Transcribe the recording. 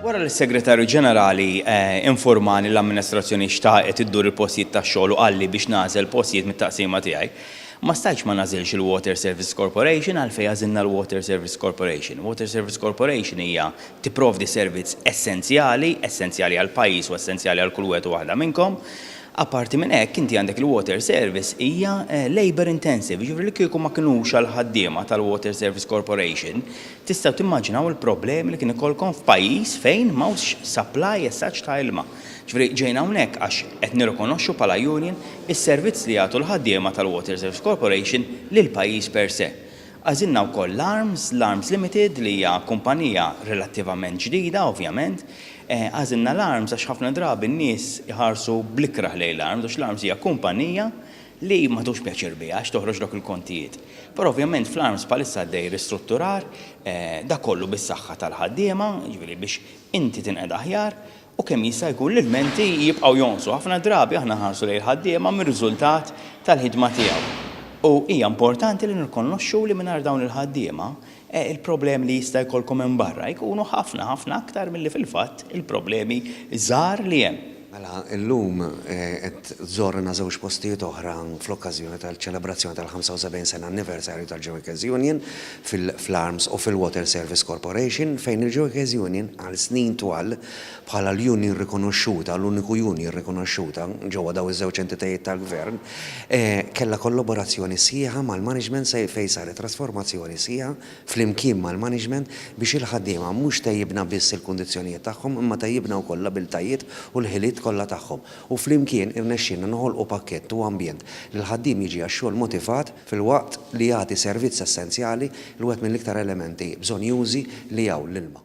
Wara li s-Segretarju Ġenerali informani l-amministrazzjoni xtaqet iddur il-postijiet tax-xogħol u qalli biex nagħżel postijiet mit-taqsima tiegħi, ma stajtx ma nagħżilx il-Water Services Corporation għalfejn għażilna l-Water Services Corporation. Water Services Corporation hija tipprovdi servizz essenzjali, essenzjali għall-pajjiż u essenzjali għal kull wieħed u waħda minnkom. Apparti minn hekk, inti għandek il-water service hija labour intensive, jiġifieri li kieku ma kinux għall-ħaddiema tal-Water Service Corporation, tistgħu timmaġinaw il-problemi li kien ikollkom f'pajjiż fejn m'hawnx supply as such ta' ilma. Jiġifieri ġejna hawnhekk għax qed nirrikonoxxu bħala union is-servizz li jagħtu l-ħaddiema tal-Water Service Corporation lill-pajjiż per se. Għażilna wkoll l-ARMS, l-ARMS Limited, li hija kumpanija relattivament ġdida, ovvjament, Għażilna l-Arms għax ħafna drabi n-nies iħarsu bl-ikrah lejn l-Arms għax l-Arms hija kumpanija li ma tħux pjaċir biha għax toħroġ dawk il-kontijiet. Però ovvjament fl-Arms bħalissa għaddej ristrutturar, dak kollu bis-saħħa tal-ħaddiema, jiġifieri biex inti tinqeda aħjar, u kemm jista' jkun l-ilmenti jibqgħu jonqsu. Ħafna drabi aħna nħarsu lejn il-ħaddiema mir-riżultat tal-ħidma tiegħu u hija importanti li nirrikonoxxu li mingħajr dawn il-ħaddiema il-problemi li jista' jkollkom hemm barra jkunu ħafna, ħafna aktar milli fil-fatt il-problemi żgħar li hemm. Mela, illum qed żorna żewġ postijiet oħra fl-okkażjoni tal-ċelebrazzjoni tal-75 sena anniversarju tal-Joycers Union fl-Arms u fil-Water Service Corporation, fejn il-Joycers Union għal snin twal bħala l-union rikonoxxuta, l-uniku union rikonoxxuta ġewwa dawn iż-żewġ entitajiet tal-gvern, kellha kollaborazzjoni sħiħa mal-management sa fejn saret trasformazzjoni sħiħa flimkien mal-management biex il-ħaddiema mhux tejjibna biss il-kundizzjonijiet tagħhom imma tejjibna wkoll l-abiltajiet u l-ħiliet kollha tagħhom u flimkien irnexxielna noħolqu pakkett u ambjent li l-ħaddiem jiġi għax-xogħol motivat filwaqt li jagħti servizz essenzjali li wieħed mill-iktar elementi bżonnjużi li hawn, l-ilma.